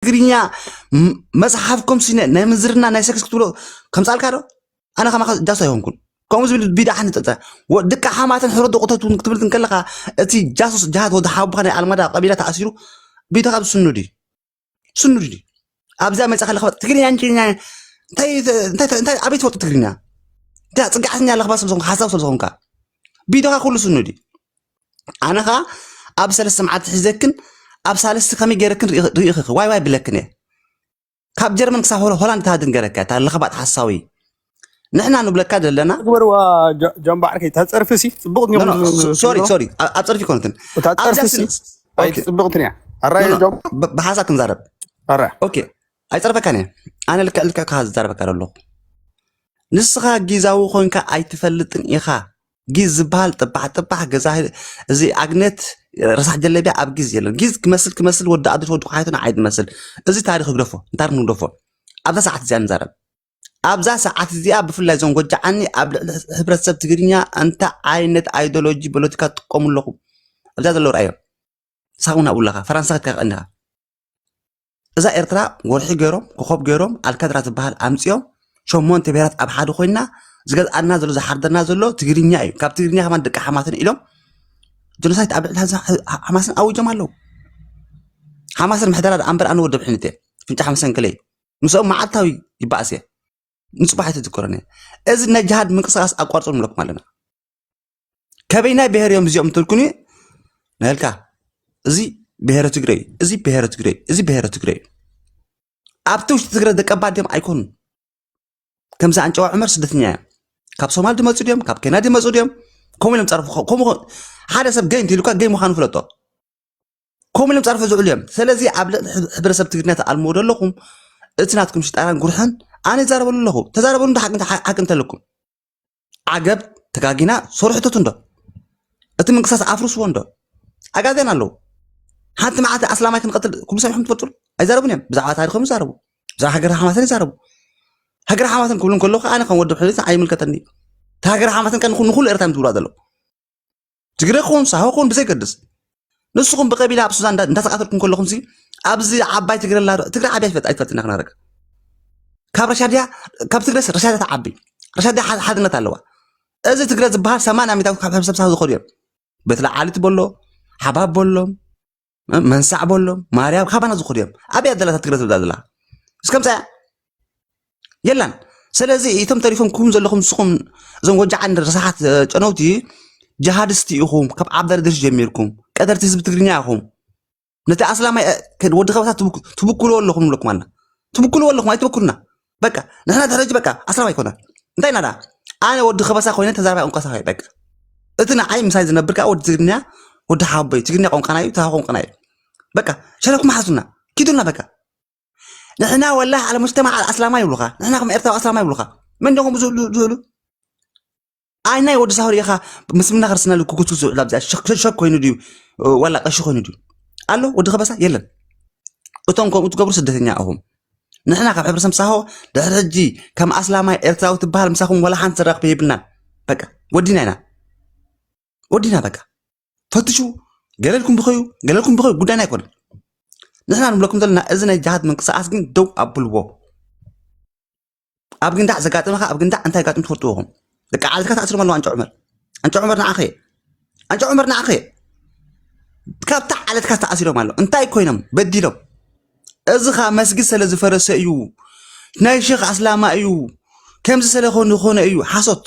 ትግርኛ መጽሓፍ ኮም ሲነ ናይ ምዝርና ናይ ሰክስ ክትብሎ ከምጻልካ ዶ ኣነ ከማኻ ጃስ ኣይኮንኩን ከምኡ ዝብል ቢዳ ሓንቲ ጠጠ ደቂ ሓማትን ሕሮ ደቁተት እውን ክትብል እንከለኻ እቲ ጃሱስ ጃሃት ወዲ ሓቡካ ናይ ኣልማዳ ቀቢላ ተኣሲሩ ቢዳ ካብ ስኑድ እዩ ስኑድ እዩ ኣብዛ መጽኻ ለኽባ ትግርኛ እንችኛ እንታይ እንታይ- እንታይ ኣበይ ትፈልጡ ትግርኛ እንታይ ፅግዓተኛ ለኽባ ስለዝኾንካ ሓሳብ ስለዝኾንካ ቢዳኻ ኩሉ ስኑድ እዩ ኣነ ከዓ ኣብ ሰለስተ መዓልቲ ሒዘክን ኣብ ሳልስቲ ከመይ ገይረክን ርኢኽኺ ዋይ ዋይ ብለክን እየ ካብ ጀርመን ክሳብ ሆላንድ ተሃድን ገረካ እታ ለኽባጥ ሓሳዊ ንሕና ንብለካ ዘለና ግበርዋ ጃምባዕርከ እታ ፀርፊ ሲ ፅቡቕት ሶሪ ሶሪ ኣብ ፀርፊ ኮነትን እታ ፀርፊ ሲ ፅቡቕትን እያ ኣራየ ጆም ብሓሳብ ክንዛረብ ኣራ ኦኬ ኣይፀርፈካን እየ ኣነ ልክዕ ልክዕ ክኻ ዝዛረበካ ኣለኹ ንስኻ ጊዛዊ ኮንካ ኣይትፈልጥን ኢኻ ጊዝ ዝበሃል ጥባሕ ጥባሕ ገዛ እዚ ኣግነት ረሳሕ ጀለቢያ ኣብ ጊዝ የለን ጊዝ ክመስል ክመስል ወዲ ኣዶት ወዲ ኳሓይቶን ዓይድ መስል እዚ ታሪክ ግደፎ ንታሪክ ንግደፎ ኣብዛ ሰዓት እዚኣ ንዛረብ ኣብዛ ሰዓት እዚኣ ብፍላይ እዞም ጎጃዓኒ ኣብ ልዕሊ ሕብረተሰብ ትግርኛ እንታይ ዓይነት ኣይዲሎጂ ፖለቲካ ትጥቀሙ ኣለኹም ኣብዛ ዘለዉ ርኣዮም ሳብ እውን ኣብኡ ኣለኻ ፈራንሳ ክትከኸእል ኢኻ እዛ ኤርትራ ወርሒ ገይሮም ኮኾብ ገይሮም ኣልከድራ ዝበሃል ኣምጺኦም ሸሞንተ ብሄራት ኣብ ሓደ ኮይና ዝገዝኣና ዘሎ ዝሓርደና ዘሎ ትግርኛ እዩ ካብ ትግርኛ ከማን ደቂ ሓማትን ኢሎም ጀኖሳይት ኣብ ልዕሊ ሓማስን ኣዊጆም ኣለዉ ሓማስን ምሕደራ ደኣ እምበር ኣነ ወደብ ሕንት እየ ፍንጫ ሓመሰንክለ እዩ ምስኦም መዓልታዊ ይበኣስ እየ ንፅባሕ ኣይተዝክሮን እየ እዚ ናይ ጅሃድ ምንቅስቃስ ኣቋርፆም ንብለኩም ኣለና ከበይናይ ብሄር እዮም እዚኦም ትልኩኒ ናልካ እዚ ብሄረ ትግረ እዩ እዚ ብሄረ ትግረ እዩ እዚ ብሄረ ትግረ እዩ ኣብቲ ውሽጢ ትግረ ደቀባ ድም ኣይኮኑን ከምዚ ኣንጨዋ ዑመር ስደተኛ እዮም ካብ ሶማል ድመፁ ድዮም ካብ ኬንያ ድመፁ ድዮም ከምኡ ኢሎም ፀርፉ ከምኡ ሓደ ሰብ ገይ እንተይሉካ ገይ ምዃኑ ፍለጦ ከምኡ ኢሎም ፀርፉ ዝውዕሉ እዮም ስለዚ ኣብ ልዕሊ ሕብረ- ሕብረተሰብ ትግርኛ ተኣልምዎ ዘለኹም እቲ ናትኩም ሽጣራን ጉርሕን ኣነ ይዛረበሉ ኣለኹ ተዛረበሉ እንተ ሓቂ እንተ- ሓቂ እንተለኩም ዓገብ ተጋጊና ሶርሕተቱ እንዶ እቲ ምንቅሳስ ኣፍርስዎ እንዶ ኣጋገን ኣለዉ ሓንቲ መዓልቲ ኣስላማይ ክንቀትል ኩሉ ሰሚዕኩም ትፈልጡ ኣይዛረቡን እዮም ብዛዕባ ታሪኮም ይዛረቡ ብዛዕባ ሃገር ሓማሰን ይዛረቡ ሃገር ሓማሰን ክብሉ ከለኩ ኣነ ከም ወዲ ሕብሪት ኣይምልከተኒ እዩ እቲ ሃገር ሓማሰን ከ ንኩሉ ኤርትራ እዮም ዝብልዋ ዘለዉ ትግረ ክኹን ሳሆ ክኹን ብዘይገድስ ንስኹም ብቀቢላ ኣብ ሱዛን እንዳተቃተልኩም ከለኹም ሲ ኣብዚ ዓባይ ትግረ ኣላ ዶ? ትግረ ዓብያ ይፈጥ ኣይትፈልጥን ኢና ክነረግ ካብ ረሻ ድያ ካብ ትግረ ረሻ ድያ ትዓቢ ረሻ ድያ ሓ- ሓድነት ኣለዋ እዚ ትግረ ዝበሃል ሰማንያ ሚታዊት ካብ ሕብረተሰብ ሳሆ ዝኸዱ እዮም በቲ ለዓሊት በሎ ሓባብ በሎ መንሳዕ በሎም ማርያም ካባና ዝኹዱ እዮም ኣበይ ኣደላታ ትግረ ትብላ ዘላ እስከምፃ እያ የላን ስለዚ እቶም ተሪፎም ክኹም ዘለኹም ንስኹም እዞም ወጃዓን ረሳሓት ጨነውቲ ጀሃድስቲ ኢኹም ካብ ዓብደርድሽ ጀሚርኩም ቀደርቲ ህዝቢ ትግርኛ ኢኹም ነቲ ኣስላማይ ወዲ ከበታ ትብክልዎ ኣለኹም ኣለኩም ኣላ ትብክልዎ ኣለኹም ኣይትበክሉና በቃ ንሕና ድሕሪ ሕጂ በቃ ኣስላም ኣይኮናን እንታይ ናዳ ኣነ ወዲ ከበሳ ኮይነ ተዛራባይ ቋንቋ ሳሆ በቃ እቲ ንዓይ ምሳይ ዝነብር ከዓ ወዲ ትግርኛ ወዲ ሓቦይ ትግርኛ ቋንቋና እዩ ተሃ ቋንቋና እዩ በቃ ሸለኩም ሓዙና ኪዱና በቃ ንሕና ወላ ዓለ ሙጅተማ ኣስላማ ይብሉኻ ንሕና ከም ኤርትራዊ ኣስላማ ይብሉኻ መን ዶኹም ዝህሉ ዝህሉ ኣይ ናይ ወዲ ሳሆር ኢኻ ምስምና ክርስትናሉ ክጉቱ ዝውዕል ኣብዚኣ ሸክ ኮይኑ ድዩ ዋላ ቀሺ ኮይኑ ድዩ ኣሎ ወዲ ከበሳ የለን እቶም ከምኡ ትገብሩ ስደተኛ ኣኹም ንሕና ካብ ሕብረተሰብ ሳሆ ድሕሪ ሕጂ ከም ኣስላማይ ኤርትራዊ ትበሃል ምሳኹም ዋላ ሓንቲ ዘራኽበ የብልናን በቃ ወዲና ኢና ወዲና በቃ ፈትሹ ገለልኩም ብኸዩ ገለልኩም ብኸዩ ጉዳይና ኣይኮነን ንሕና ንብለኩም ዘለና እዚ ናይ ጃሃት ምንቅስቃስ ግን ደው ኣብልዎ ኣብ ግንዳዕ ዘጋጥመኻ ኣብ ግንዳዕ እንታይ ጋጥም ትፈልጥዎ ኹም ደቂ ዓለትካ ተኣስሮም ኣለዉ ኣንጨ ዑመር ኣንጨ ዑመር ንዓኸ ኣንጨ ዑመር ንዓኸ ካብታ ዓለትካ ተኣሲሮም ኣሎ እንታይ ኮይኖም በዲሎም እዚ ኸዓ መስጊድ ስለ ዝፈረሰ እዩ ናይ ሸኽ ኣስላማ እዩ ከምዚ ስለ ኮነ እዩ ሓሶት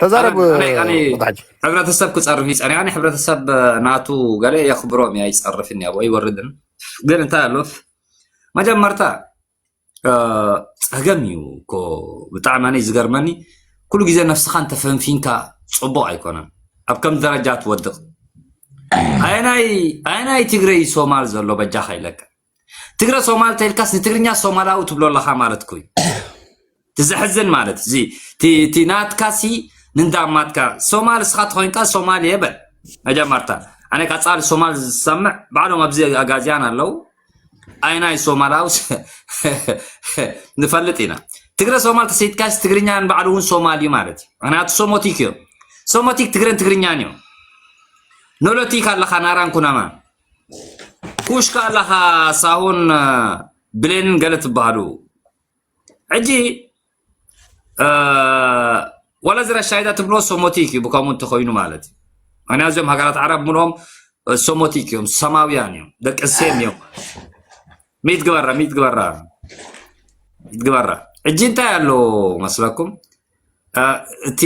ተዛረብ ኣነ ኣነ ኣነ ወዳጅ ሕብረተሰብ ክፀርፍ ይፀር ኣነ ሕብረተሰብ ናቱ ገለ የኽብሮም እዩ ኣይፀርፍን እዩ ኣይወርድን ግን እንታይ ኣሎ መጀመርታ እ፣ ፀገም እዩ እኮ ብጣዕሚ ኣነ ዝገርመኒ ኩሉ ግዜ ነፍስኻ እንተፈንፊንካ ፅቡቕ ኣይኮነን ኣብ ከም ደረጃ ትወድቕ ኣየናይ ኣየናይ ትግረይ ሶማል ዘሎ በጃኻ ይለካ ትግረ ሶማል ተልካስ ንትግርኛ ሶማላዊ ትብሎ ኣለኻ ማለት ኩይ ትዘሕዝን ማለት እዚ እቲ ናትካ ሲ ንንዳማትካ ሶማል እስኻ ተኾይንካ ሶማል እየ በል መጀመርታ ኣነ ቀፃሊ ሶማል ዝሰምዕ ባዕሎም ኣብዚ ኣጋዚያን ኣለው ኣይናይ ሶማላዊ ንፈልጥ ኢና ትግረ ሶማል ተሰይትካስ ትግርኛ ንባዕሉ እውን ሶማል እዩ ማለት እዩ ምክንያቱ ሶሞቲክ እዮም ሶሞቲክ ትግረን ትግርኛን እዮም ኖሎቲክ ኣለካ ናራን ኩናማ ኩሽካ ኣለኻ ሳሆን ብሌንን ገለ ትበሃሉ ሕጂ ዋላ እዚ ራሻይዳ ትብሎ ሶሞቲክ እዩ ብከምኡ እንተኮይኑ ማለት እዩ ምክንያቱ እዚኦም ሃገራት ዓረብ ምሎም ሶሞቲክ እዮም ሰማውያን እዮም ደቂ ሴም እዮም ሚት ግበራ ሚት ግበራ ሚት ግበራ ሕጂ እንታይ ኣሎ መስለኩም አ፣ እቲ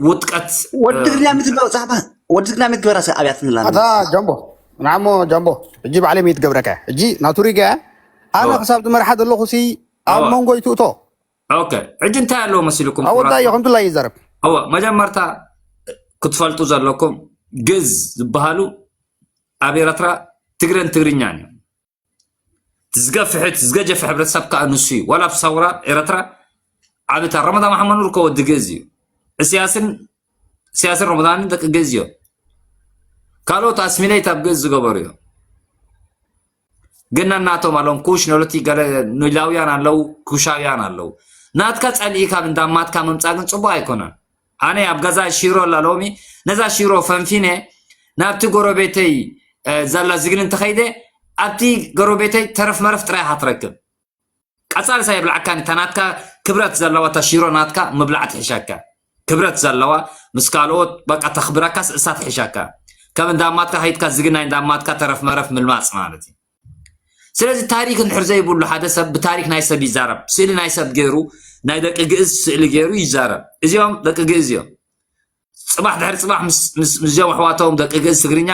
ውጥቀት ወዲ ትግርኛ ምትግበረ ዛዕባ ወዲ ትግርኛ ምትግበረ ሰብ ኣብያት ንላለ ኣታ ጃምቦ ንዓሞ ጃምቦ ሕጂ ባዕለይ መይት ገብረካ ሕጂ ናቱ ሪጋ ኣነ እወ ክሳብ ዝመርሓ ዘለኹ ሲ ኣብ እወ መንጎ ይትእቶ ኦኬ ሕጂ እንታይ ኣለዎ መሲልኩም ኣብ ወዳዮ ክቡራትና ከምትላይ ይዛረብ እወ መጀመርታ ክትፈልጡ ዘለኩም ግዝ ዝበሃሉ ኣብ ኤረትራ ትግረን ትግርኛን እዮም ዝገፍሕት ዝገጀፈ ሕብረተሰብ ከዓ ንሱ እዩ ዋላ ኣብ ሳውራ ኤረትራ ዓብታ ረመዳን መሓመድ ኑር ከወዲ ገዝ እዩ እስያስን እስያስን ረመዳንን ደቂ ገዝ እዮም ካልኦት ኣስሚሌት ኣብ ገዝ ዝገበሩ እዮም ግን ናናቶም ኣለዎም ኩሽ ነሎቲ ገለ ኒላውያን ኣለዉ ኩሻውያን ኣለዉ ናትካ ጸሊኢካ እንዳማትካ ምምጻእ ግን ጽቡቅ ኣይኮነን ኣነ ኣብ ገዛ ሽሮ ኣላ ሎሚ ነዛ ሽሮ ፈንፊነ ናብቲ ጎረቤተይ ዛላ ዝግኒ እንተኸይደ ኣብቲ ጎረቤተይ ተረፍ መረፍ ጥራይ ኢኻ ትረክብ ቀጻልሳ የብልዓካን እታ ናትካ ክብረት ዘለዋ እታ ሽሮ ናትካ ምብላዕ ትሕሸካ ክብረት ዘለዋ ምስ ካልኦት በቃ ተኽብረካስ እሳ ትሕሸካ ከም እንዳማትካ ከይድካ ዝግናይ እንዳማትካ ተረፍ መረፍ ምልማጽ ማለት እዩ ስለዚ ታሪክ እንድሕር ዘይብሉ ሓደ ሰብ ብታሪክ ናይ ሰብ ይዛረብ ስእሊ ናይ ሰብ ገይሩ ናይ ደቂ ግእዝ ስእሊ ገይሩ ይዛረብ እዚኦም ደቂ ግእዝ እዮም ፅባሕ ድሕሪ ፅባሕ ምስዚኦም ኣሕዋቶም ደቂ ግእዝ ትግርኛ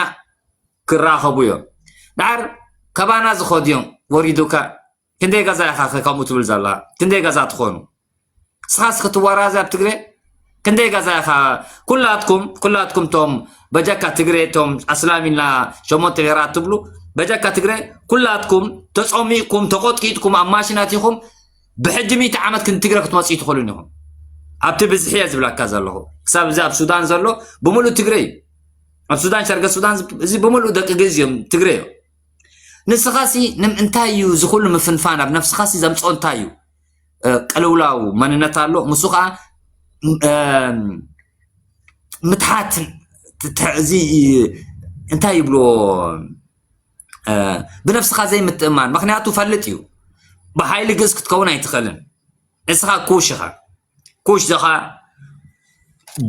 ክራኸቡ እዮም ድሓር ከባና ዝኸዱ እዮም ወሪዱካ ክንደይ ገዛ ኢኻ ከምኡ ትብል ዘላ ክንደይ ገዛ ትኾኑ ንስኻስ ክትዋራዘ ኣብ ትግረ ክንደይ ጋዛ ኢኻ ኩላትኩም ኩላትኩም ቶም በጃካ ትግረ ቶም ኣስላም ኢልና ሸሞንተ ብሄራት ትብሉ በጃካ ትግረ ኩላትኩም ተፀሚቕኩም ተቆጥቂጥኩም ኣብ ማሽናት ኢኹም ብሕጂ ሚእቲ ዓመት ክንትግረ ክትመፅኡ ትኽእሉን ኢኹም ኣብቲ ብዝሒ እየ ዝብላካ ዘለኹ ክሳብ እዚ ኣብ ሱዳን ዘሎ ብምሉእ ትግረ እዩ ኣብ ሱዳን ሸርገ ሱዳን እዚ ብምሉእ ደቂ ግዝ እዮም ትግረ እዮም ንስኻሲ እንታይ እዩ ዝኹሉ ምፍንፋን ኣብ ነፍስኻሲ ዘምፅኦ እንታይ እዩ ቅልውላው መንነት ኣሎ ምስ ከዓ ምትሓት እዚ እንታይ ይብሎ ብነፍስኻ ዘይምትእማን ምክንያቱ ፈልጥ እዩ ብሓይሊ ግእዝ ክትከውን ኣይትኽእልን ንስኻ ኩሽ ኢኻ ኩሽ ዘኻ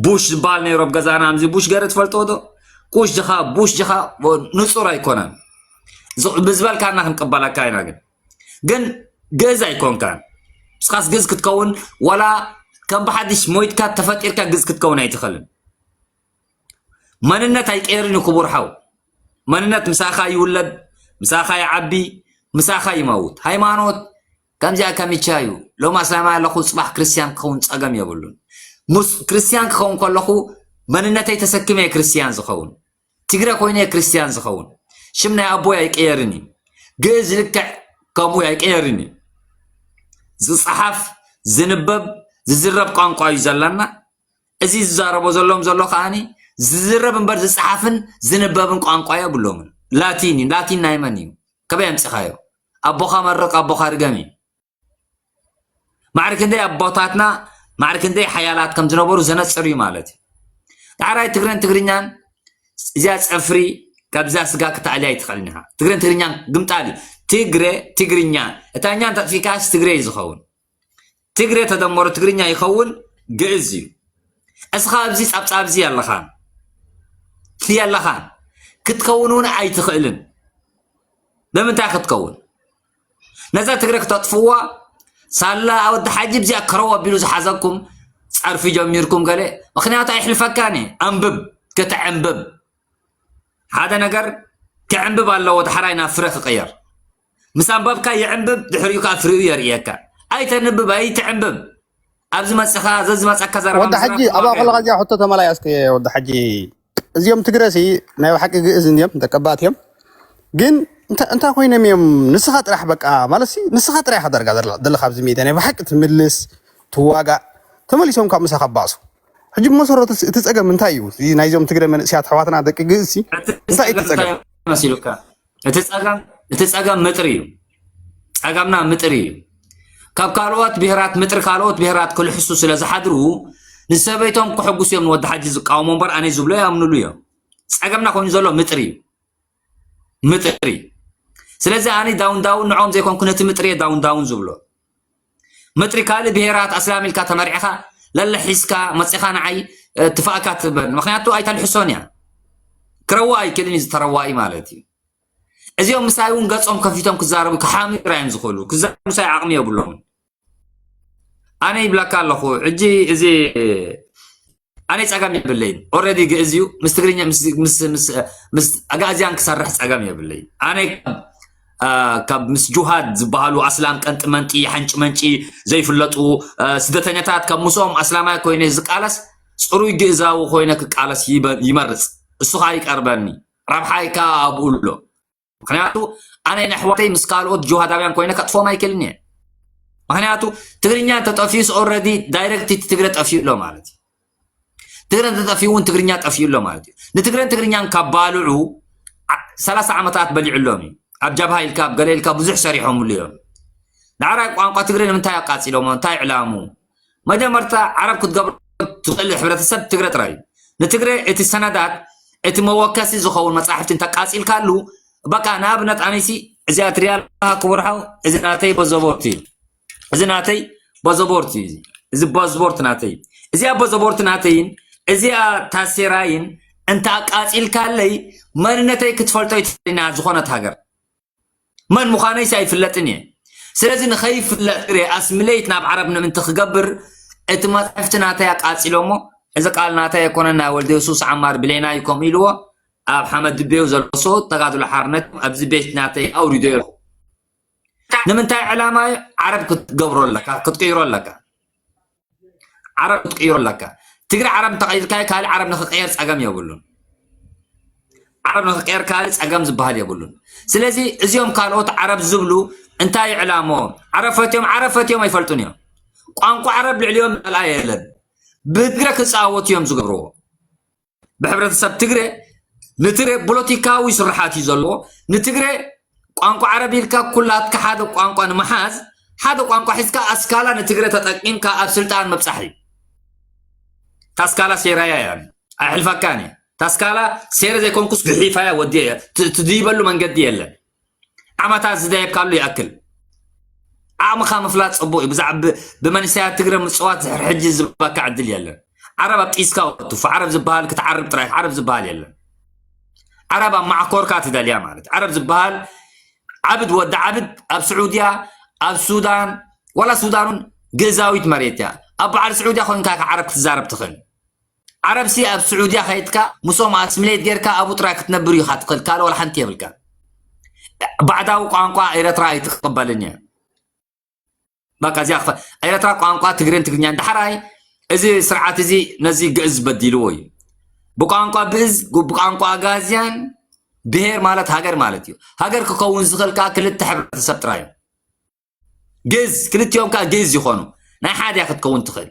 ቡሽ ዝበሃል ነይሮ ኣብ ገዛና ምዚ ቡሽ ገረ ትፈልጥዎ ዶ ኩሽ ጀኻ ቡሽ ጀኻ ንፁር ኣይኮነን ብዝበልካና ክንቅበለካ ኢና ግን ግን ግእዝ ኣይኮንካን ንስኻስ ግእዝ ክትከውን ዋላ ከም ብሓድሽ ሞይትካ ተፈጢርካ ግእዝ ክትከውን ኣይትኽእልን መንነት ኣይቀየርን እዩ ክቡር ሓው መንነት ምሳኻ ይውለድ ምሳኻ ይዓቢ ምሳኻ ይመውት ሃይማኖት ከምዚኣ ከሚቻ እዩ ሎም ኣስላማይ ኣለኹ ፅባሕ ክርስትያን ክኸውን ፀገም የብሉን ክርስትያን ክኸውን ከለኹ መንነተይ ተሰኪመ ክርስትያን ዝኸውን ትግረ ኮይኑ እየ ክርስትያን ዝኸውን ሽም ናይ ኣቦይ ኣይቀየርን እዩ ግእዝ ልክዕ ከምኡ ኣይቀየርን እዩ ዝፀሓፍ ዝንበብ ዝዝረብ ቋንቋ እዩ ዘላና እዚ ዝዛረቦ ዘሎም ዘሎ ከዓኒ ዝዝረብ እምበር ዝፀሓፍን ዝንበብን ቋንቋ የብሎምን ላቲን እዩ ላቲን ናይ መን እዩ ከበይ ኣምፂኻዮ ኣቦኻ መርቕ ኣቦኻ ርገም እዩ ማዕሪ ክንደይ ኣቦታትና ማዕሪ ክንደይ ሓያላት ከም ዝነበሩ ዘነፅር እዩ ማለት እዩ ዳዕራይ ትግረን ትግርኛን እዚኣ ፀፍሪ ካብዛ ስጋ ክትኣልያ ይትኽእልን ኢኻ ትግረን ትግርኛን ግምጣል እዩ ትግረ ትግርኛ እታኛ እንተጥፊካስ ትግረ እዩ ዝኸውን ትግረ ተደመሮ ትግርኛ ይኸውን ግእዝ እዩ እስኻ ኣብዚ ጻብጻብ እዚ ኣለኻን የለኻን ክትከውን እውን ኣይትኽእልን ብምንታይ ክትከውን ነዛ ትግረ ክተጥፍዋ ሳላ ወዲ ሓጂ ብዚኣ ከረው ኣቢሉ ዝሓዘኩም ጸርፊ ጀሚርኩም ገለ ምክንያቱ ኣይሕልፈካን እዩ ኣንብብ ከተዕንብብ ሓደ ነገር ክዕንብብ ኣለዎ ዳሕራይ ናብ ፍረ ክቕየር ምስ ኣንባብካ ይዕንብብ ድሕሪኡ ከዓ ፍሪኡ የርእየካ ኣይተንብብ ኣይትዕንብብ ኣብዚ መፅኻ ዘዝመፀካ ዘረባ ወዲ ሓጂ ኣብኣ ከለካ እዚኣ ሕቶ ተመላያስከ ወዲ ሓጂ እዚኦም ትግረ ሲ ናይ ባሓቂ ግእዝ እንድዮም ተቀባእቲ እዮም ግን እንታ እንታይ ኮይኖም እዮም ንስኻ ጥራሕ በቃ ማለት ሲ ንስኻ ጥራሕ ኢኻ ዳርጋ ዘላ- ዘለኻ ኣብዚ ሜድያ ናይ ባሓቂ ትምልስ ትዋጋእ ተመሊሶም ካብ ምሳኻ ባእሱ ሕጂ ብመሰረቱ ሲ እቲ ጸገም እንታይ እዩ እዚ ናይዞም ትግረ መንእሰያት ኣሕዋትና ደቂ ግእዝ ሲ እቲ እንታይ እዩ እቲ ጸገም እንታይ ጸገም መሲሉካ እቲ ጸገም እቲ ጸገም ምጥሪ እዩ ጸገምና ምጥሪ እዩ ካብ ካልኦት ብሄራት ምጥሪ ካልኦት ብሄራት ክልሕሱ ስለ ዝሓድሩ ንሰበይቶም ክሕጉስ እዮም ንወዲ ሓጂ ዝቃወሞ እምበር ኣነ ዝብሎ ይኣምንሉ እዮም ጸገምና ኮይኑ ዘሎ ምጥሪ እዩ ምጥሪ ስለዚ ኣነ ዳውን ዳውን ንዖም ዘይኮንኩ ነቲ ምጥሪ እየ ዳውን ዳውን ዝብሎ መጥሪ ካልእ ብሄራት ኣስላም ኢልካ ተመርዕኻ ለለ ሒዝካ መጺኻ ንዓይ ትፋእካ ትበል ምክንያቱ ኣይተልሕሶን እያ ክረዋ ኣይክልን እዩ ዝተረዋኢ ማለት እዩ እዚኦም ምሳይ እውን ገጾም ከፊቶም ክዛረቡ ክሓሚራ እዮም ዝኽእሉ ክዛረቡ ምሳይ ዓቕሚ የብሎም ኣነ ይብለካ ኣለኹ ሕጂ እዚ ኣነ ጸገም የብለይን ኦልሬዲ ግእዝ እዩ ምስ ትግርኛ ምስ ኣጋእዝያን ክሰርሕ ጸገም የብለይ ኣነ ካብ ምስ ጁሃድ ዝበሃሉ ኣስላም ቀንጢ መንጢ ሓንጭ መንጪ ዘይፍለጡ ስደተኛታት ካብ ምስኦም ኣስላማይ ኮይነ ዝቃለስ ፅሩይ ግእዛዊ ኮይነ ክቃለስ ይመርፅ እሱኻ ይቀርበኒ ረብሓይካ ኣብኡ ኣሎ ምክንያቱ ኣነ ንኣሕዋተይ ምስ ካልኦት ጅሃዳውያን ኮይነ ከጥፎም ኣይክእልን እየ ምክንያቱ ትግርኛ እንተጠፊዩስ ኦረዲ ዳይረክት እቲ ትግረ ጠፊኡ ኣሎ ማለት እዩ ትግረ እንተጠፊኡ እውን ትግርኛ ጠፊኡ ኣሎ ማለት እዩ ንትግረን ትግርኛን ካብ ባልዑ ሰላሳ ዓመታት በሊዑሎም እዩ ኣብ ጃብሃ ኢልካ ኣብ ገለ ኢልካ ብዙሕ ሰሪሖምሉ እዮም ንዓራይ ቋንቋ ትግረ ንምንታይ ኣቃፂሎሞ እንታይ ዕላሙ መጀመርታ ዓረብ ክትገብሮ ትኽእል ሕብረተሰብ ትግረ ጥራይ እዩ። ንትግረ እቲ ሰነዳት እቲ መወከሲ ዝኸውን መጻሕፍቲ እንተቃጺልካሉ በቃ ንኣብነት ኣነሲ እዚ ኣትሪያ ኣለካ ክቡር ሓው እዚ ናተይ በዘቦርት እዩ እዚ ናተይ በዘቦርት እዩ እዚ በዝቦርት ናተይ እዚኣ በዘቦርት ናተይን እዚኣ ታሴራይን እንተ ኣቃጺልካለይ መንነተይ ክትፈልጦ ይትኽእልና ዝኾነት ሃገር መን ምዃነይሲ ኣይፍለጥን እየ ስለዚ ንኸይፍለጥ ግሬ ኣስምለይት ናብ ዓረብ ንምንቲ ክገብር እቲ መፅሕፍቲ ናተይ ኣቃፂሎሞ እዚ ቃል ናተይ ኣይኮነን ናይ ወልደ የሱስ ዓማር ብሌና እዩ ከምኡ ኢልዎ ኣብ ሓመድ ድቤው ዘሎ ሰውት ተጋድሎ ሓርነት ኣብዚ ቤት ናተይ ኣውሪዶ ኣለኹ ንምንታይ ዕላማ እዩ ዓረብ ክትገብሮ ኣለካ ክትቅይሮ ኣለካ ዓረብ ክትቅይሮ ኣለካ ትግሪ ዓረብ እንተቐይርካዮ ካልእ ዓረብ ንክቀየር ጸገም የብሉን ዓረብ ንክቀየር ካልእ ጸገም ዝበሃል የብሉን ስለዚ እዚኦም ካልኦት ዓረብ ዝብሉ እንታይ ዕላምኦም ዓረብ ፈትዮም ዓረብ ፈትዮም ኣይፈልጡን እዮም ቋንቋ ዓረብ ልዕልዮም መልኣ የለን ብትግረ ክፃወቱ እዮም ዝገብርዎ ብሕብረተሰብ ትግረ ንትግረ ፖለቲካዊ ስርሓት እዩ ዘለዎ ንትግረ ቋንቋ ዓረብ ኢልካ ኩላትካ ሓደ ቋንቋ ንምሓዝ ሓደ ቋንቋ ሒዝካ ኣስካላ ንትግረ ተጠቂምካ ኣብ ስልጣን ምብፃሕ እዩ ታስካላ ሴራያ እያ ኣይሕልፈካን እየ ታስካላ ሴረ ዘይኮንኩስ ግሒፋያ ወዲየ እየ ትድይበሉ መንገዲ የለን ዓመታት ዝደየካሉ ይኣክል ዓቕምኻ ምፍላጥ ፅቡቅ እዩ ብዛዕባ ብመንእሰያት ትግረ ምፅዋት ዝሕር ሕጂ ዝባካ ዕድል የለን ዓረብ ኣብ ጢስካ ወትፉ ዓረብ ዝበሃል ክትዓርብ ጥራይ ዓረብ ዝበሃል የለን ዓረብ ኣብ ማዕኮርካ ትደልያ ማለት ዓረብ ዝበሃል ዓብድ ወዲ ዓብድ ኣብ ስዑድያ ኣብ ሱዳን ዋላ ሱዳን ግእዛዊት መሬት እያ ኣብ በዓል ስዑድያ ኮንካ ዓረብ ክትዛረብ ትኽእል ዓረብ ሲ ኣብ ስዑድያ ከይድካ ምስኦም ኣስሚሌት ጌርካ ኣብኡ ጥራይ ክትነብር ኢኻ ትኽእል ካልእ ዋላ ሓንቲ የብልካ ባዕዳዊ ቋንቋ ኤረትራ ኣይትቕበልን እያ በቃ እዚኣ ክፈ ኤረትራ ቋንቋ ትግርን ትግርኛን ዳሕራይ እዚ ስርዓት እዚ ነዚ ግእዝ በዲልዎ እዩ ብቋንቋ ብእዝ ብቋንቋ ኣጋዝያን ብሄር ማለት ሃገር ማለት እዩ ሃገር ክኸውን ዝኽእል ከዓ ክልተ ሕብረተሰብ ጥራይ እዩ ግእዝ ክልቲኦም ከዓ ግእዝ ይኾኑ ናይ ሓድያ ክትከውን ትኽእል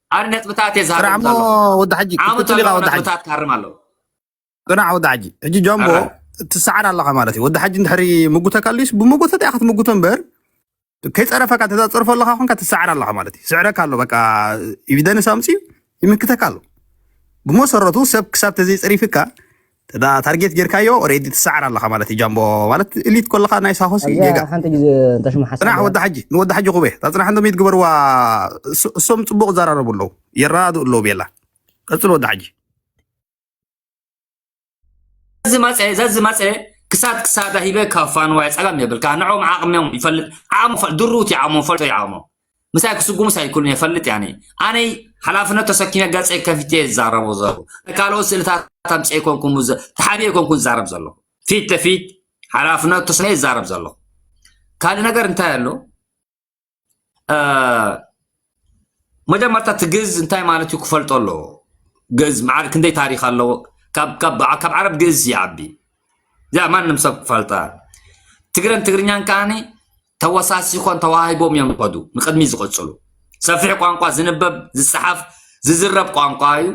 ኣነ ነጥብታት እየ ዝሃርም ራዕሞ ዘሎ ወዲ ሓጂ ዓመት ክትቅፅል ኣለዎ ኢኻ ወዲ ሓጂ ነጥብታት ክሃርም ኣለዎ ቅናዕ ወዲ ሓጂ ሕጂ ጃምቦ ኣረ ትሰዓር ኣለኻ ማለት እዩ ወዲ ሓጂ እንድሕሪ ምጉተካ ኣልዩስ ብመጎተታ ኢኻ ትምጉቶ እምበር ከይፀረፈካ እንተ ፀርፎ ኣለኻ ኮንካ ትሰዓር ኣለኻ ማለት እዩ ስዕረካ ኣሎ በቃ ኢቪደንስ ኣምፅኡ ይምክተካ ኣሎ ብመሰረቱ ሰብ ክሳብ ተዘይፀሪፍካ እዳ ታርጌት ጌርካዮ ኦሬዲ ትሰዓር ኣለኻ ማለት እዩ ጃምቦ ማለት እሊት ኮለኻ ናይ ሳሆሲ ኣብዚኣ ጌጋ ሓንቲ ግዜ እንተሽሙ ሓሳብ ፅናሕ ወዲ ሓጂ ንወዲ ሓጂ ኩበ እታ ፅናሕ እንዶም ይትግበርዋ እሶ- እሶም ፅቡቅ ይዘራረቡ ኣለዉ የረዳድኡ ኣለዉ ቤላ ቀፅል ወዲ ሓጂ ዝመፀ ዘዚ መፀ ክሳድ ክሳዳ ሂበ ካብ ፋንዋይ ፀገም የብል ከዓ ንዕኦም ዓቕሚኦም ይፈልጥ ዓቕሞ ፈል ድሩት ይዓሞ ፈልጦ ይዓሞ ምሳይ ክስጉሙስ ኣይክእሉን እየ ፈልጥ ያኒ ኣነይ ሓላፍነት ተሰኪመ ገፀይ ከፊተ ዝዛረቦ ዘለኹ ካልኦት ስእልታት ኣምፀ ኮንኩም ተሓቢኤ ኮንኩን ዝዛረብ ዘለኹ ፊት ለፊት ሓላፍነት ተስነ ይዛረብ ዘለኹ ካልእ ነገር እንታይ ኣሎ መጀመርታ እቲ ግዝ እንታይ ማለት እዩ ክፈልጦ ኣለዎ ግዝ መዓር ክንደይ ታሪክ ኣለዎ ካብ ዓረብ ግዝ ይዓቢ እዚኣ ማንም ሰብ ክፈልጣ ትግረን ትግርኛን ከዓኒ ተወሳሲኾን ተዋሂቦም እዮም ዝኸዱ ንቅድሚ ዝቕፅሉ ሰፊሕ ቋንቋ ዝንበብ ዝፀሓፍ ዝዝረብ ቋንቋ እዩ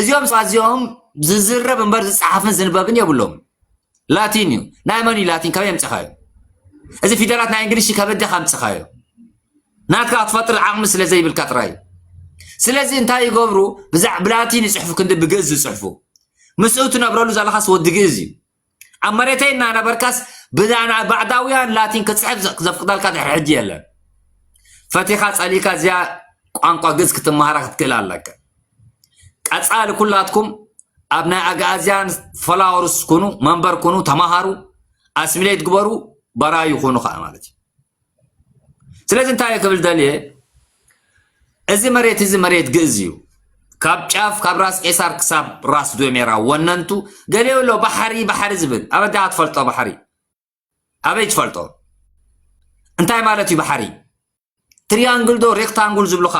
እዚኦም ሰባት እዚኦም ዝዝረብ እምበር ዝፀሓፍን ዝንበብን የብሎም ላቲን እዩ ናይ መን እዩ ላቲን ከመይ ኣምፅኻዮ እዚ ፊደላት ናይ እንግሊሽ ከበደ ካምፅኻዮ ናትካ ክትፈጥር ዓቕሚ ስለ ዘይብልካ ጥራይ እዩ ስለዚ እንታይ ይገብሩ ብላቲን ይፅሕፉ ክንዲ ብግእዝ ዝፅሕፉ ምስኡ ትነብረሉ ዘለኻስ ወዲ ግእዝ እዩ ኣብ መሬተይ እናነበርካስ ብዛና ባዕዳውያን ላቲን ክፅሕፍ ዘፍቅደልካ ድሕሪ ሕጂ የለን ፈቲኻ ፀሊእካ እዚኣ ቋንቋ ግዝ ክትመሃራ ክትክእል ኣለካ ቀፃሊ ኩላትኩም ኣብ ናይ ኣግኣዝያን ፈላወርስ ኩኑ መንበር ኩኑ ተማሃሩ ኣስሚሌት ግበሩ በራዩ ኩኑ ከዓ ማለት እዩ ስለዚ እንታይ እየ ክብል ደልየ እዚ መሬት እዚ መሬት ግእዝ እዩ ካብ ጫፍ ካብ ራስ ቄሳር ክሳብ ራስ ዶሜራ ወነንቱ ገሊኡ ኣሎ ባሕሪ ባሕሪ ዝብል ኣበዳ ትፈልጦ ባሕሪ ኣበይ ትፈልጦ እንታይ ማለት እዩ ባሕሪ ትሪያንግል ዶ ሬክታንጉል ዝብሉካ